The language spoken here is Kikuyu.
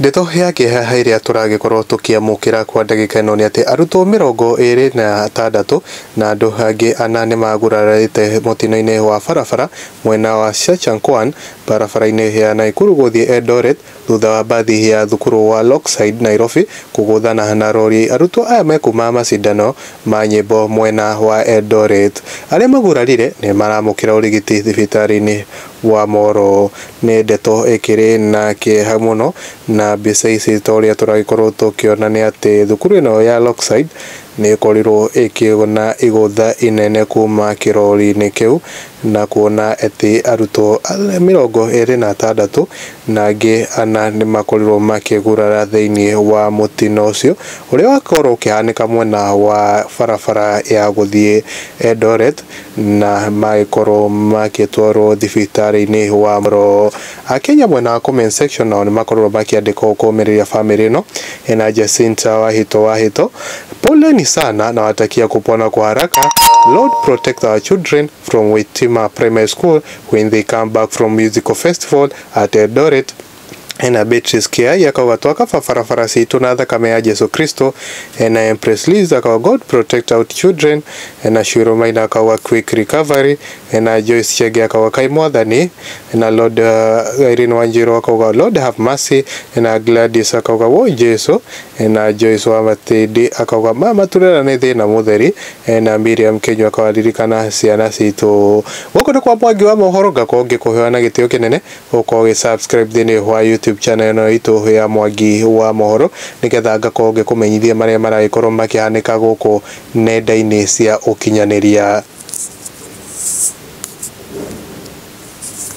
Ndeto ya kĩeha ĩrĩa tũragĩkorwo tũkĩamũkĩra kwa ndagĩka ĩno nĩ atĩ arutwo mĩrongo ĩrĩ na atandatũ na andũ angĩ ana nĩmagurarĩte mũtino-inĩ wa barabara mwena wa Shachanquan barabara-inĩ ya Naikuru gũthiĩ Eldoret thutha wa mbathi ya thukuru wa Lockside Nairobi kũgũthana na rori. Arutwo aya me kuma macindano ma nyĩmbo mwena wa Eldoret. Arĩa magurarire nĩmaramũkĩra ũrigiti thibitarĩ-inĩ wa moro. Nĩ ndeto ĩkĩrĩ na kĩeha mũno na mbica ici ta ũrĩa tũragĩkorwo tũkĩona nĩ atĩ thukuru ĩno ya Lockside nĩ ĩkorirwo ĩkĩona igũtha inene kuma kĩrori-inĩ kĩu na kuona atĩ arutwo mĩrongo ĩrĩ na atandatũ na angĩ ana nĩ makorirwo makĩgurara thĩinĩ wa mũtino ũcio ũrĩa wakorwo ũkĩhanĩka mwena wa barabara ya gũthiĩ Eldoret. na magĩkorwo makĩtwarwo thibitarĩ-inĩ wa Moro. Akenya mwena wa comment section nao nĩmakorirwo makĩandĩka ũũ kũũmĩrĩria famĩlĩ ĩno ĩna Jacinta Wahito Wahito, Poleni sana nawatakia kupona kwa haraka, Lord protect our children from Witima Primary School when they come back from musical festival at Eldoret. ena Beatrice Kiai akaugatwa ka babarabara citũ na thakame ya Jesu Kristo, ena Empress Liz akauga God protect out children, ena Shiro Maina akauga quick recovery, ena Joyce Chege akauga kai mwathani, ena Lord uh, Irene Wanjiru akauga Lord have mercy, ena Gladys akauga woi Jesu, ena Joyce wa Matindi akauga mama turera nĩ thĩna mũtheri, ena Miriam Kenyu akauga ririkana ciana citũ. Gũkũ nĩ kwa mwangi wa mohoro ngakorwo ngĩkũhoya na gĩtĩo kĩnene ũkorwo ũgĩ subscribe thĩinĩ wa YouTube channel ĩno itũ ya Mwangi wa Mohoro nĩgetha ngakorwo ngĩkũmenyithia marĩa maragĩkorwo makĩhanĩka gũkũ nenda-inĩ cia ũkinyanĩria.